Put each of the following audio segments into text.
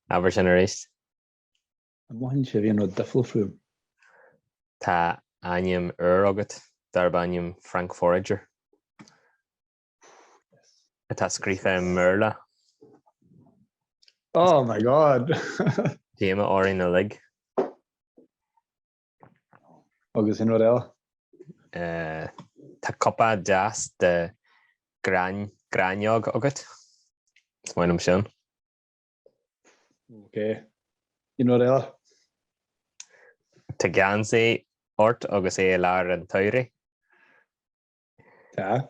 Abair sin arís. An mothaíonn sibh aon rud difriúil fúm? Tá ainm úr agat darb ainm Frank Forager. Atá scríofa i mBéarla. Oh my god! Díomá orainn uilig. Agus aon rud eile? Tá cupa deas de ghráinneog agat. Is maith liom sin. Ok. Aon rud eile? Tá geansaí ort agus é i lár an tsamhraidh. Tá.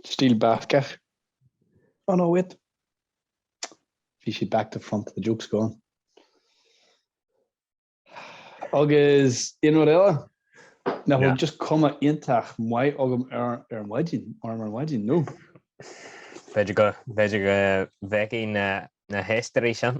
Stíl Bascach. Oh no, wait. Bhí siad back to front, the joke's gone. Agus aon rud eile? Ná bhfuil just cuma iontach maith agam ar ar maidin, orm ar maidin, nó? B'fhéidir go b'fhéidir go bhfeicfidh na na héisteoirí sin.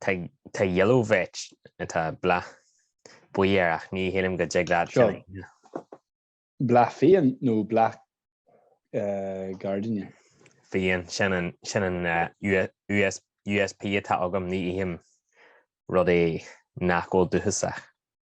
Tá yellow vetch atá bláth buí air ach ní shílim go dtig leat sin a shéanadh. Bláth fiáin nó bláth gairdín? Fiáin, sin an USP atá agam, ní ithim rudaí nach bhfuil dúchasach.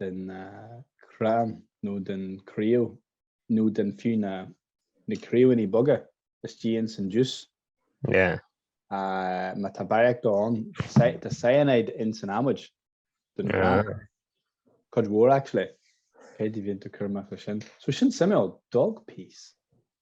den chrann nó den chraobh nó den fiú na na craoibhíní boga istigh ins an juice. Má tá barraíocht ann, tá cyanide ins an adhmaid den chrann. Cuid mhór actually. Cad é a bhíonn tú ag cur amach leis sin? So sin suimiúil. Dog piece.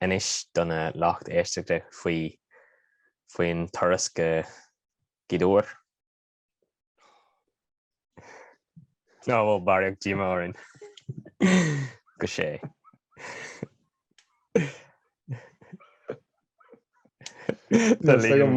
inis do na lucht éisteachta faoi faoin turas go Gaoth Dobhair. Ná bhfuil barraíocht díomá orainn go sé. Tá Liam.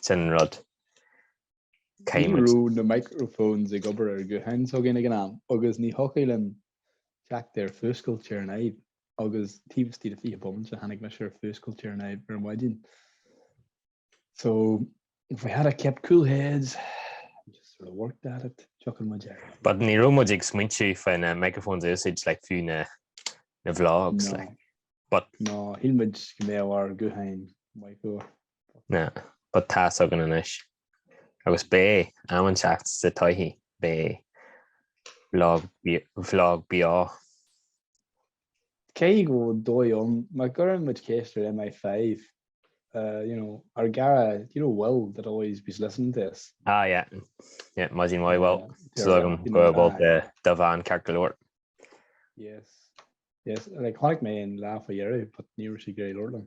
Sin an rud. Ní raibh na microphones ag obair ar ghuthán s'againn ag an am agus ní thiocfadh liom teacht ar fuascailt ar an fhadhb agus taobh istigh de 20 bomaite tháinig mise ar fuascailt ar an fhadhb ar maidin. So if we had a kept cool heads and just sort of worked at it, thiocfadh muid air. But ní raibh muid ag smaointiú faoi na microphones usage like fiú na vlogs like. But. No, shíl muid go mbeadh ár ghuthán micro Na ba tá 's againn anois. Agus b'é am an seacht sa toigh b'é vlog beo. Cé go bhfuil dóigh liom má gcuireann muid ceist ar MI5, you know, ár gcara, do you know well they'll always be listening to us? Ah, yeah. Yeah, maidin mhaith bhuel. So go bhfuil dá bhean ceart go leor. Yes. Yes, and like chonaic mé an laugh aréir, but ní raibh sé go hiomlán.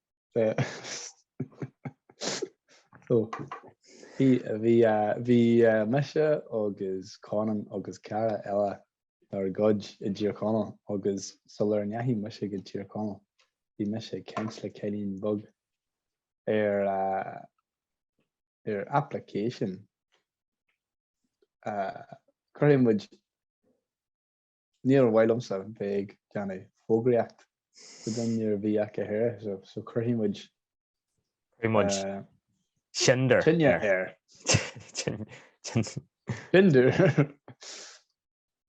Bhí mise agus Conan agus cara eile dár gcuid i dTír Chonaill agus sular ndeachaigh mise go Tír Chonaill bhí mise ag caint le cailín beag ar ar application a cuirfidh muid Níor mhaith liomsa bheith ag déanamh fógraíocht daofa nuair a bhí acu here so so cuirfidh muid Cuirfidh muid eh, Tinder tine air. air. Tin- tin- Tinder.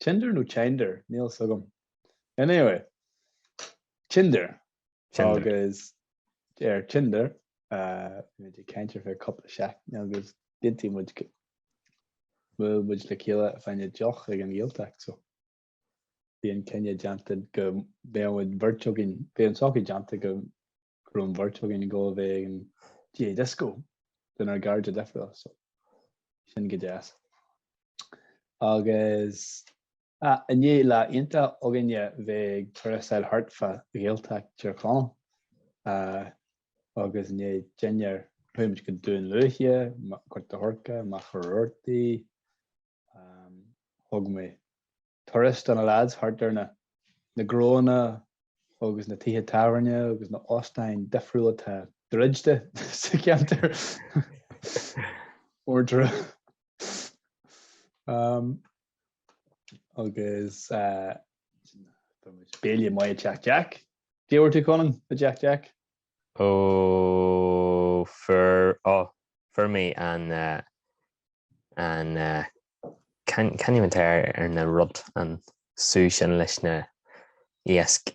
Tinder nó Tinder? Níl fhios agam. Anyway, Tinder. Tinder. Agus ar Tinder, eh, bhí muid ag caint ar feadh cúpla seachtain agus go ndéanfadh muid go- buail muid le chéile fá choinne deoch ag an nGaeltacht so bhí an cinneadh déanta go mbeadh muid bheirt againn, bhí an socrú déanta go raibh an bheirt againn ag gabháil a bheith ag an GAA Disco lenár gcairde difriúla so sin go deas. Agus. Inné lá iontach againn a bheith ag turasáil thart fá Ghaeltacht Thír Chonaill agus inné don dinnéar, chuaigh muid go Dún Lúiche, Gort a' Choirce, Machaire Rabhartaigh, thug mé turas do na lads thart ar na gnónna agus na tithe tábhairne agus na hóstáin difriúla atá druidte sa cheantar Ordrah. Um, agus béile maith i dTeach Jack. Caidé a bhfuair tú Conan i dTeach Jack? Ó fuair ó fuair mé an an ceann ceann úd ar na rud an sú sin leis na iasc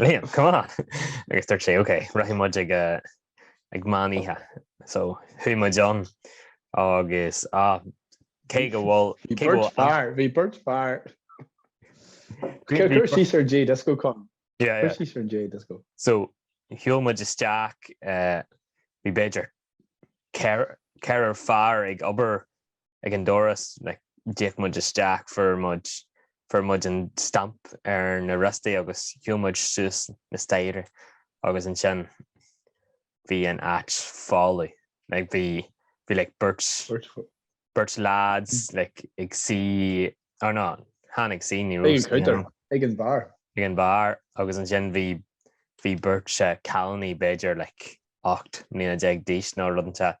Liam, come on! Agus dúirt sé, OK, rachaidh muid ag, ag meán oíche. So, chuaigh muid ann agus, ah, cé go bhfuil, cé go bhfuil an-. Bhí beirt fear, bhí beirt fear. Cuir síos ar an GAA Disco, Con. Yeah, yeah. Cuir síos ar an GAA Disco. So, shiúil muid isteach, bhí b'fhéidir ceathrar fear ag obair ag an doras, like, d'íoc muid isteach, fuair muid, fuair muid an stamp ar na riostaí agus chuaigh muid suas na staighre agus ansin bhí an áit folamh, like, bhí, bhí, like, beirt, beirt lads, like, ag suí, or no, chan ag suí, ní raibh suí ann. Ag an bheár. Ag an bheár agus ansin bhí, bhí beirt, eh, cailíní b'fhéidir, like, ocht mbliana déag d'aois nó rud inteacht.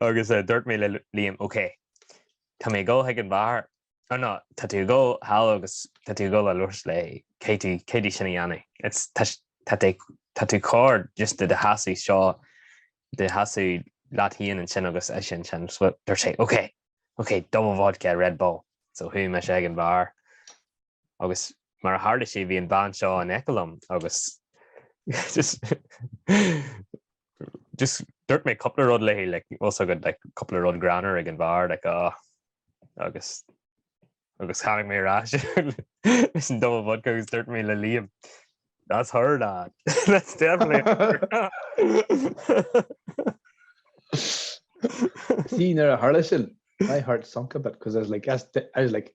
Agus dúirt mé le Liam, OK, tá mé ag dul chuig an bheár, or no, tá tú ag dul thall agus tá tú ag dul a labhairt léi, caithfidh tú, caithfidh tú sin a dhéanamh. It's, tá, tá tú, tá tú corr just i do sheasamh anseo, do sheasamh leat féin ansin agus ise ansin. So dúirt sé, OK, OK, double vodka, Red Bull. So chuaigh mise chuig an bheár agus mar a tharla sé bhí an bhean seo in aice liom agus just, Just dúirt mé cúpla rud léi like bhfuil 's agat like cúpla rud greannmhar ag an bheár like ah agus agus tháinig mé ar ais leis an double vodka agus dúirt mé le Liam that's her lad that's definitely her See nuair a tharla sin my heart sunk a bit because I was like that's I was like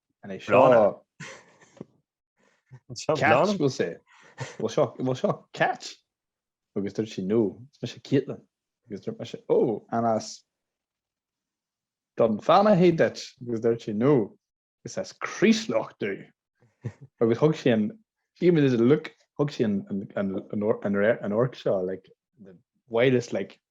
An é seo Cáit bhfuil sé? Bhfuil seo Cáit? Agus dúirt sí no, is mise Caitlin. Agus dúirt mise ó, an as Dún Fionnachaidh duit? Agus dúirt sí no, is as Craoslach domh. Agus thug sí an, she did a look, thug sí an amharc seo like the whitest like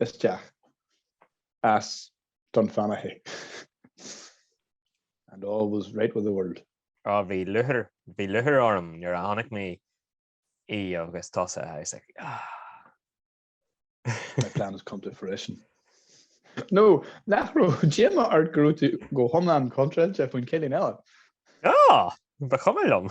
isteach as Dún Fionnachaidh. And all was right with the world. Á, bhí lúcháir, bhí lúcháir orm nuair a chonaic mé í agus tusa, I was like, ah. My plan has come to fruition. No, nach raibh díomá ort go raibh tú go hiomlán contráilte faoin chailín eile? Ah, ba chuma liom.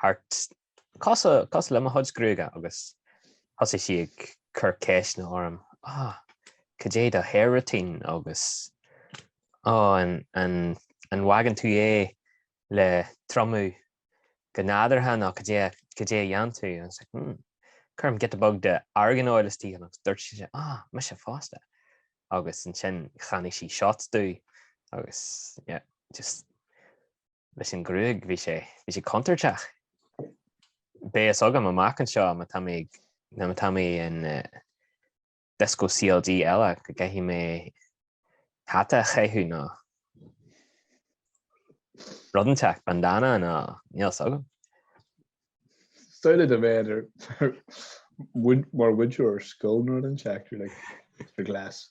thart. Cosúil le mo chuid gruaige agus thosaigh sí ag cur ceisteanna orm, ah, cad é do hair routine agus oh, an bhfaigheann tú é le triomú go nádúrtha nó cad é cad é a dhéanann tú? I was like, hmm, cuirim giota beag de argan oil istigh ann agus dúirt sí, ah, mise fosta. Agus ansin cheannaigh sí shots domh agus yeah, just. leis an ghruaig bhí sé bhí sé contúirteach. Beidh 's agam amach anseo má tá mé nó má tá mé in disco CLG eile go gcaithfidh mé hata a chaitheamh nó rud inteacht, bandana nó níl 's agam. Staonadh do bheith ar mar mhúinteoir scoile nó rud inteacht, you're like, Mr Glass,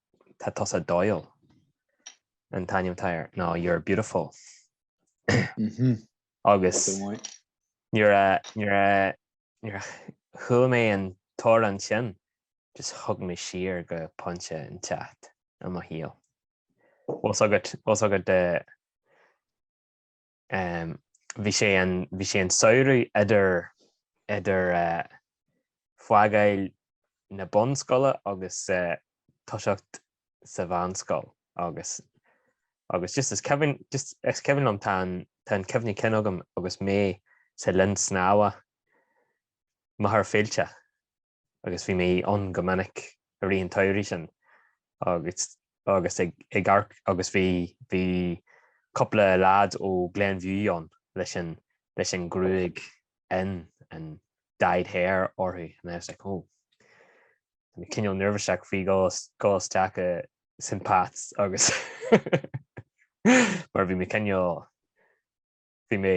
Tá tusa dóighiúil. An t-ainm atá air ná You're Beautiful. Mhm. Agus Go maith. nuair a nuair a nuair a chuala mé an t-amhrán sin, just thug mé siar go pointe inteacht i mo shaol. Bhfuil a fhios agat bhfuil a fhios agat eh Bhí sé an samhradh idir idir fágáil na bunscoile agus toiseacht sa mheánscoil agus agus just is cuimhin just is cuimhin liom tá an tá an cuimhne cinn agam agus mé sa linn snámha Machaire Fíolta. agus bhí mé ann go minic i rith an tsamhraidh sin agus agus ag ag amharc agus bhí bhí cúpla leaid ó Glenview ann leis an leis an gruaig an an dyed hair orthu and I was like oh Tá mé cineál neirbhíseach faoi dhul isteach i St Pat's agus mar bhí mé cineál bhí mé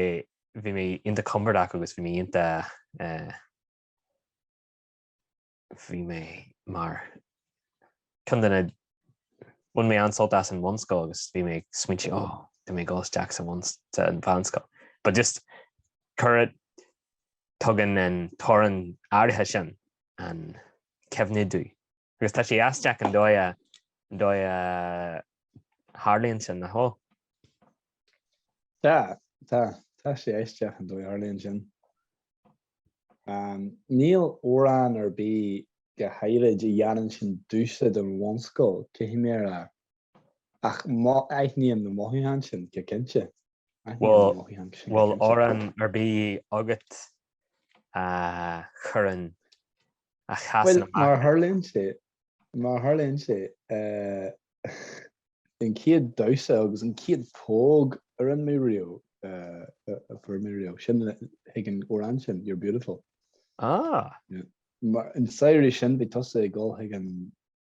bhí mé iontach compordach agus bhí mé iontach eh bhí mé mar ceann de na, bhain mé an-sult as an bhunscoil agus bhí mé ag smaointigh oh tá mé ag dul isteach sa mheánscoil. But just cuireann, tugann an t-amhrán áirithe sin an cuimhne domh Agus tá sé aisteach an dóigh a tharlaíonn sin, nach bhfuil? Tá, tá, tá sé aisteach an dóigh a tharlaíonn sin. Um, níl amhrán ar bith go háirid a dhéanann sin domhsa den bhunscoil, caithfidh mé a rá. Ach um, aithním na mothúcháin sin, go cinnte. Well, bhfuil amhrán ar bith agat a chuireann a chasann amach. Mar tharlaíonn sé, mar tharlaíonn sé, an chéad damhsa agus an chéad póg a rinne mé riamh, a fuair mé riamh, sin chuig an amhrán sin, You're Beautiful. Ah! Mar an samhradh sin, bhí tusa ag dul chuig an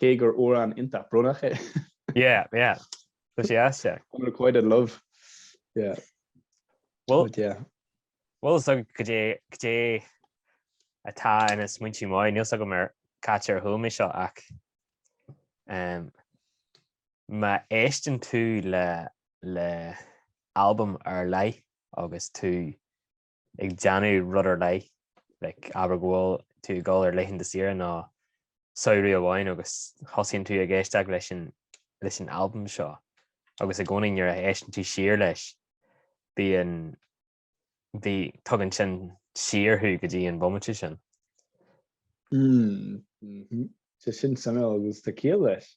Cé gur amhrán iontach brónach é. Yeah, yeah. Tá sé as sé. Tá quite in love. Yeah. Well, yeah. Well, so go dé go dé atá ina smaointe máid níl a fhios agam mar catar thuúmi seo ach um, má éisteann tú le le albam ar leith agus tú ag déanamh rud ar leith, like, abair go bhfuil tú ag dul ar laethanta saoire nó samhradh amháin agus thosaíonn tú ag éisteacht leis an leis an albam seo agus i gcónaí nuair a éisteann tú siar leis bíonn bhí tugann sin siar thú go dtí an bomaite sin. Mm, mm-hmm. Tá sin suimiúil agus tá ciall leis.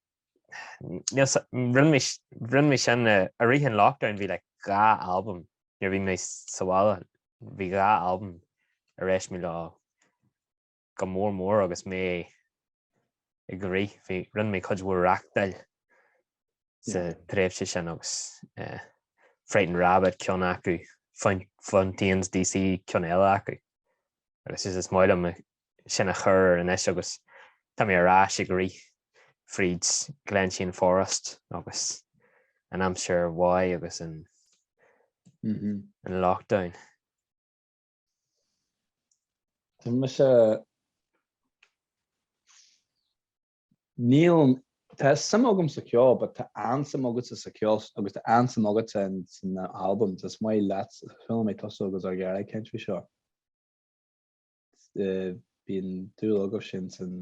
Rinne mé sin i rith an lockdown bhí like dhá albam nuair a bhí mé sa bhaile bhí dhá albam ar éist mé leo go mór mór agus mé ag rith bhí rinne mé cuid mhór reachtáil sa tréimhse sin agus eh, Frightened Rabbit ceann acu Fontaines DC ceann eile acu agus is is maith liom sin a chur ar anois agus tá mé ar ais ag rith fríd Glenshane Forest agus an aimsir mhaith agus an lockdown. Tá mise níl tá suim agam sa ceol but tá an-suim agatsa sa ceol agus tá an-suim agatsa san album is maith leat chuala mé tusa agus ar ghearradh caint faoi seo. bíonn dúil agatsa insan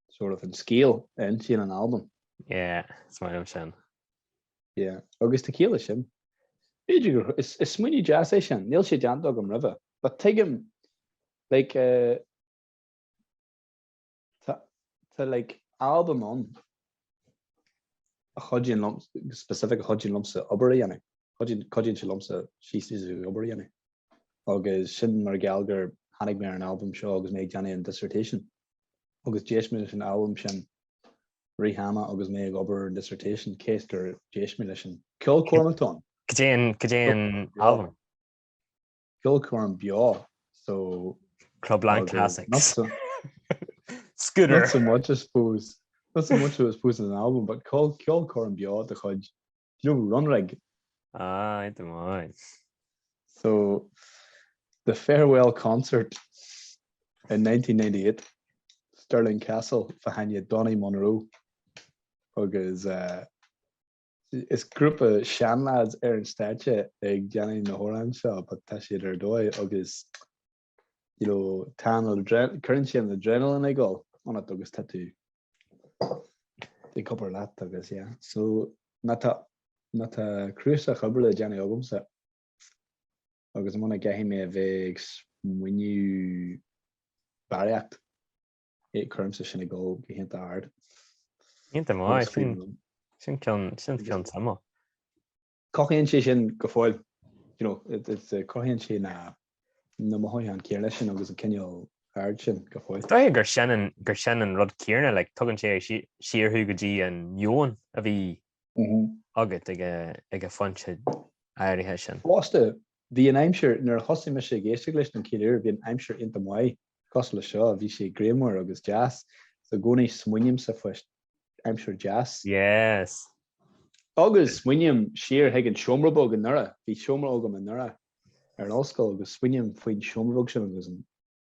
sort of an scéal a insíonn an albam. Yeah, is maith sin. Yeah, agus tá ciall leis sin. Is smaoineamh deas é sin, níl sé déanta agam roimhe, but tuigim, like, uh, Tá like album ann a chuidíonn liom, specific a chuidíonn liomsa obair a dhéanamh, cuidíonn cuidíonn sé liomsa she says a obair a dhéanamh agus sin mar gheall gur tháinig mé ar an album seo agus mé ag déanamh an dissertation agus d'éist mé leis an album sin i rith an ama agus mé ag obair ar an dissertation cés gur d'éist mé leis an ceol Cormac Donn. Cad é an cad é an album. Club Clann Beo so Club Lang Classics. Scooter. Not so much I suppose. Not so much I suppose an album, but Club Clann Beo de chuid Club Runrig. Ah, I don't mind. So, the farewell concert in 1998, Stirling Castle, fa haine Donny Munro, agus uh, Is grúpa seanleaids ar an stáitse ag déanamh na hamhráin seo but tá siad ar dóigh agus you know tá an adren- cuireann siad an adrenaline ag dul ionat agus tá tú ag obair leat agus yeah. So má tá má tá cnuasach obair le déanamh agamsa agus muna gcaithfidh mé a bheith ag smaoineamh barraíocht Ith cuirimse sin ag dul go hiontach ard. Iontach maith, sin sin ceann sin ceann suimiúil. Cothaíonn sé sin go fóill, you know, it's uh, cothaíonn sé na na mothúcháin céanna sin agus an cineál aird sin go fóill. Dóigh gur sin an gur sin an rud céanna, like, tugann sé siar thú go dtí an meon a bhí mm -hmm. agat ag a, ag an phointe áirithe sin. Fosta, Bhí an aimsir, nuair a thosaigh mise ag éisteacht leis na Killers, bhí an aimsir iontach maith, cosúil le seo, bhí sé grianmhar agus deas, is i gcónaí smaoinímse faoi aimsir deas. Yes. Agus smaoiním siar chuig an seomra beag anuraidh, bhí seomra beag anuraidh ar an ollscoil agus smaoiním faoin seomra beag sin agus an.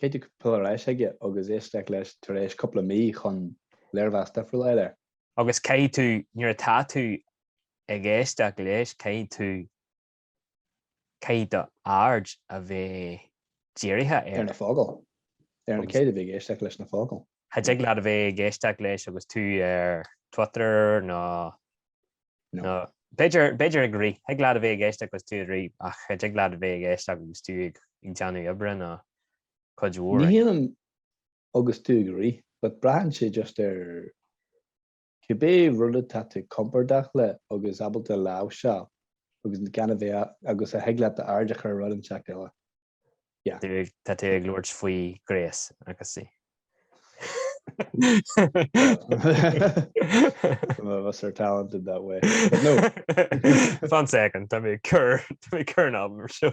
Caithfidh tú dul ar ais chuige agus éisteacht leis tar éis cúpla mí chun léirmheas difriúil a fháil air. Agus caithfidh tú, nuair atá tú ag éisteacht leis, caithfidh tú, caithfidh do aird a bheith dírithe ar na focail. Ar na, caithfidh tú a bheith ag éisteacht leis na focail. Cha dtig leat a bheith ag éisteacht leis agus tú ar Twitter nó, nó, b'fhéidir, b'fhéidir ag rith, thig leat a bheith ag éisteacht agus tú ag rith ach cha dtig leat a bheith ag éisteacht agus tú ag déanamh oibre nó cuid mhór. Ní hionann agus tú ag rith but braitheann sé just ar. Cibé rud atá tú compordach leis agus ábalta láimhseáil agus gan a bheith agus a thig leat do aird a chur ar rud inteacht eile. Yeah. Tá tú ag labhairt faoi Grace agus í. Some of us are talented that way. But no. Fan second, tá mé ag cur, tá mé ag cur an album ar seo.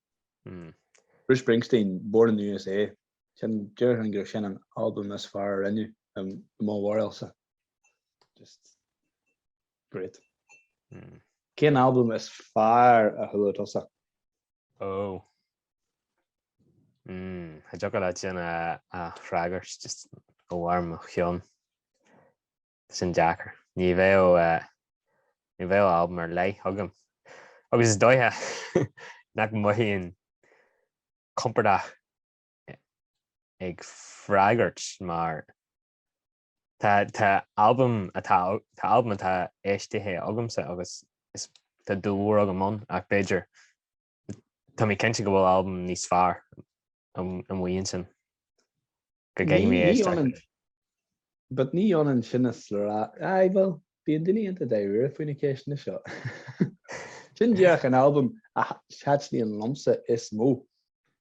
Bruce Springsteen, Born in the USA. Sin, déarfainn gurb é sin an albam is fearr a rinneadh i mo bharúilse. Just great. Cén albam is fearr a chuala tusa? Ó. Tá sé deacair sin a fhreagairt just ó bharr mo chinn. sin deacair. Ní bheadh, ní bheadh albam ar leith agam. Agus is dóiche nach mothaím compordach ag freagairt mar tá tá albam atá tá albam atá éistithe agamsa agus is tá dúil mhór agam ann ach b'fhéidir Tá mé cinnte go bhfuil albam níos fearr amuigh ansin go gcaithfidh mé éisteacht. But ní ionann sin is a rá, aye bhuel, bíonn daoine iontach dáiríre faoi na ceisteanna seo. Sin díreach an albam a thaitníonn liomsa is mó.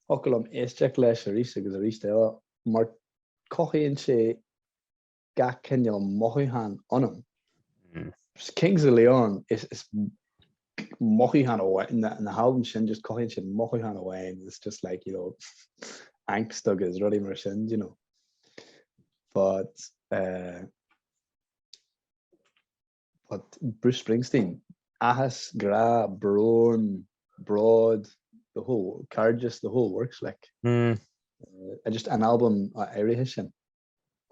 Thiocfadh liom éisteacht leis arís agus arís eile mar cothaíonn sé gach cineál mothúchán ionam. Mm. Kings of Leon is, is mothúchán amháin, na, na halbam sin just cothaíonn sin mothúchán amháin, it's just like, you know, angst agus rudaí mar sin, you know. But, uh, but Bruce Springsteen, áthas, grá, brón, bród, the whole, cairdeas, the whole works, like. Mm. Uh, just an album, uh, áirithe sin.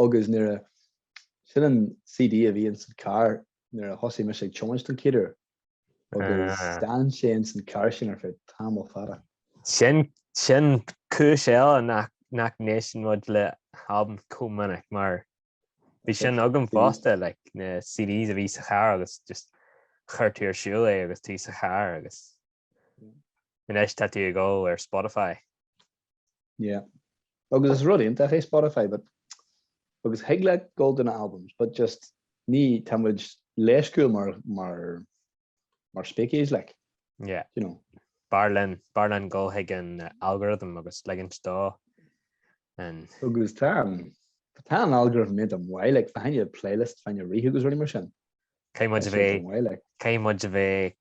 Agus nuair a, sin an CD a bhí ins an carr nuair a thosaigh mise ag tiomáint don chéad uair agus Ah. d'fhan sé ins an charr sin ar feadh tamall fada. Sin, sin cúis eile nach, nach n-éisteann muid le halbaim chomh minic mar bhí sin agam Bhí. fosta, like, na CDs a bhí sa charr agus just chuir tú ar siúl é agus tú sa charr agus Anois tá tú ag gabháil ar Spotify. Yeah. Agus is rud iontach é Spotify but agus thig leat gabháil do na albums but just ní tá muid leisciúil mar mar mar species like. Yeah. You know. B'fhearr linn, b'fhearr linn gabháil chuig an algorithm agus ligint dó. And... Agus tá tá an algorithm maith dom a mhéad like fá choinne playlist fá choinne rith agus rudaí mar sin. Thig muid a bheith thig muid a bheith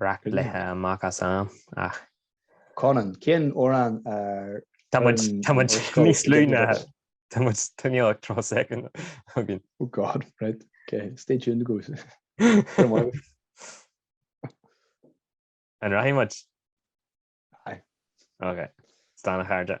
beagnach rite amach as am ach. Conan, cén fhoireann ar. Tá muid, tá muid níos lú na, tá muid, tá níos lú ná tríocha soicind againn. Oh God, right, okay, stay tuned go. An rachaidh muid? Aye. Okay, slán a chairde.